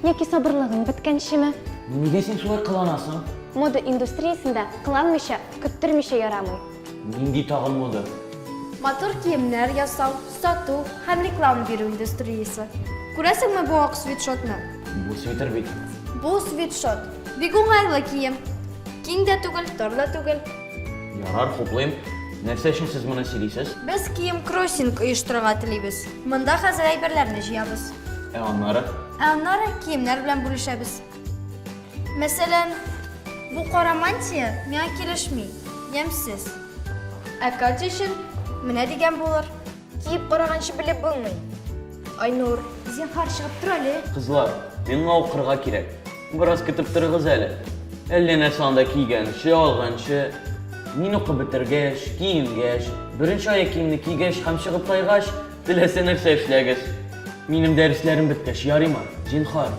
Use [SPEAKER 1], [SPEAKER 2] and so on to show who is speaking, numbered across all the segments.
[SPEAKER 1] Яки сабырлыгың беткәнчеме? Нигә син шулай
[SPEAKER 2] кыланасың? Мода
[SPEAKER 1] индустриясендә кыланмыйча, көттермичә ярамый. Нинди тагын
[SPEAKER 2] мода? Матур
[SPEAKER 3] киемнәр ясау, сату һәм реклама бирү индустриясе. Күрәсеңме бу ак свитшотны? Бу свитер бит.
[SPEAKER 2] Бу свитшот.
[SPEAKER 3] Бик уңайлы кием. Киң дә түгел, тар да түгел. Ярар,
[SPEAKER 2] хуплыйм. Нәрсә өчен сез моны сөйлисез? Без кием кроссинг
[SPEAKER 3] оештырырга телибез. Монда хәзер әйберләрне җыябыз. Ә аннары?
[SPEAKER 2] Ә аннары
[SPEAKER 3] киемнәр белән бүлешәбез. Мәсәлән, бу кара мантия миңа килешми, ямьсез. Ә Катя өчен менә дигән булыр. Киеп караганчы
[SPEAKER 1] белеп булмый. Айнур,
[SPEAKER 3] зинхар чыгып тор әле. Кызлар, миңа
[SPEAKER 2] укырга кирәк. Бераз көтеп торыгыз әле. Әллә нәрсә анда кийгәнче, алганчы. Мин укып бетергәч, киенгәч, беренче аяк киемне кигәч һәм чыгып тайгач, теләсә нәрсә эшләгез. Минем дәресләрем беткәч, ярыймы? Зинхар.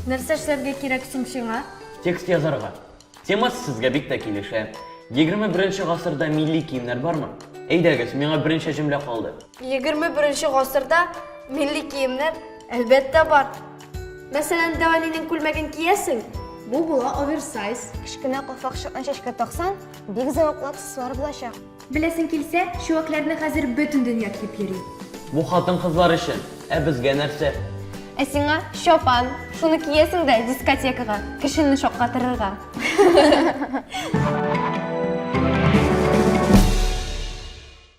[SPEAKER 2] Нәрсә
[SPEAKER 3] эшләргә кирәк соң сиңа? Текст язарга.
[SPEAKER 2] Темасы сезгә бик тә килешә. 21 гасырда милли киемнәр бармы? Әйдәгез, миңа берничә җөмлә калды. 21
[SPEAKER 3] гасырда милли киемнәр, әлбәттә, бар. Мәсәлән, Дәвалинең күлмәген киясең, бу була оверсайз. Кечкенә калфакчыкны
[SPEAKER 1] чәчкә таксаң, бик зәвыклы аксессуар булачак. Беләсең килсә,
[SPEAKER 3] чүәкләрне хәзер бөтен дөнья киеп йөри. Бу хатын-кызлар
[SPEAKER 2] өчен, ә безгә нәрсә? Ә сиңа,
[SPEAKER 1] чапан, шуны киясең дә дискотекага, кешене шаккатырырга.